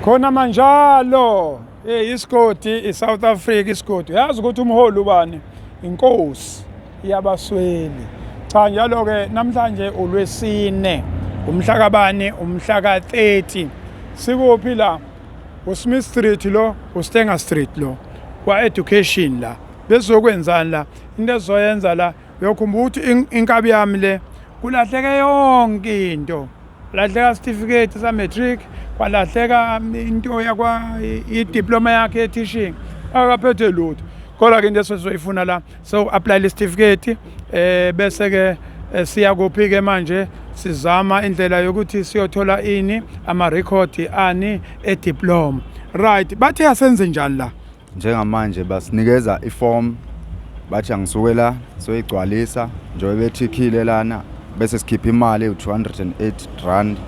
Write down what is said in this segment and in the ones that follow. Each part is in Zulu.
khona manjalo hey isigodi iSouth Africa isigodi yazi ukuthi umholi ubani inkosi yabasweli cha njalo ke namhlanje ulwesine umhla kabani umhla ka 30 sikuphi la uSmith Street lo uStenger Street lo kwa education la bezokwenzani la into ezoyenza la uyokhumbula ukuthi inkabi yami le kulahleke yonke into Lahleka isitifiketi sa-matric kwalahleka um, into yakwa idiploma yakhe ye-teaching akaphethe lutho kodwa ke into esizoyifuna la soku-aplayela isitifiketi um eh, bese-ke eh, siya kuphi-ke manje sizama indlela yokuthi siyothola ini amarekhodi ani ediploma right bathe asenze njani la njengamanje basinikeza iform bathi angisuke la soyigcwalisa njengoba bethikhile lana bese sikhipha imali u-208 rand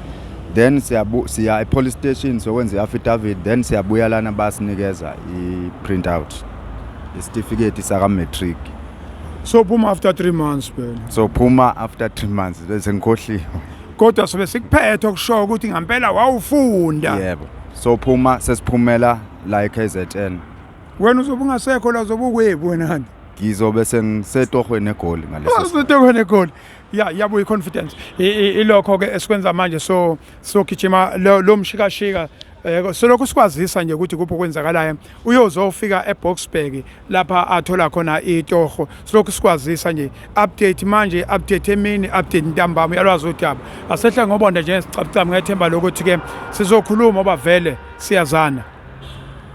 then siya e-police station sokwenza i-affidavit then siyabuya lana basinikeza i-print out isitifiketi saka-matric so phuma after three months phela so phuma after three months bese ngikhohliwe kodwa sobe sikuphethe okushoyo ukuthi ngampela wawufunda yebo so phuma sesiphumela la eKZN wena uzobe ungasekho la uzobe ukwebu wena nje ngizobe sengisetohweni egoli ngaleso usetohweni egoli ya yabo i-confidence ilokho-ke esikwenza manje so sogijima lo mshikashika um eh, solokhu sikwazisa nje ukuthi kuphi okwenzakalayo uyozofika eboxburg lapha athola khona itoho silokhu sikwazisa nje update manje update emini update ntambama uyalwazi udaba asehla ngobonda njengesicabcaba ngethemba lokuthi ke sizokhuluma oba vele siyazana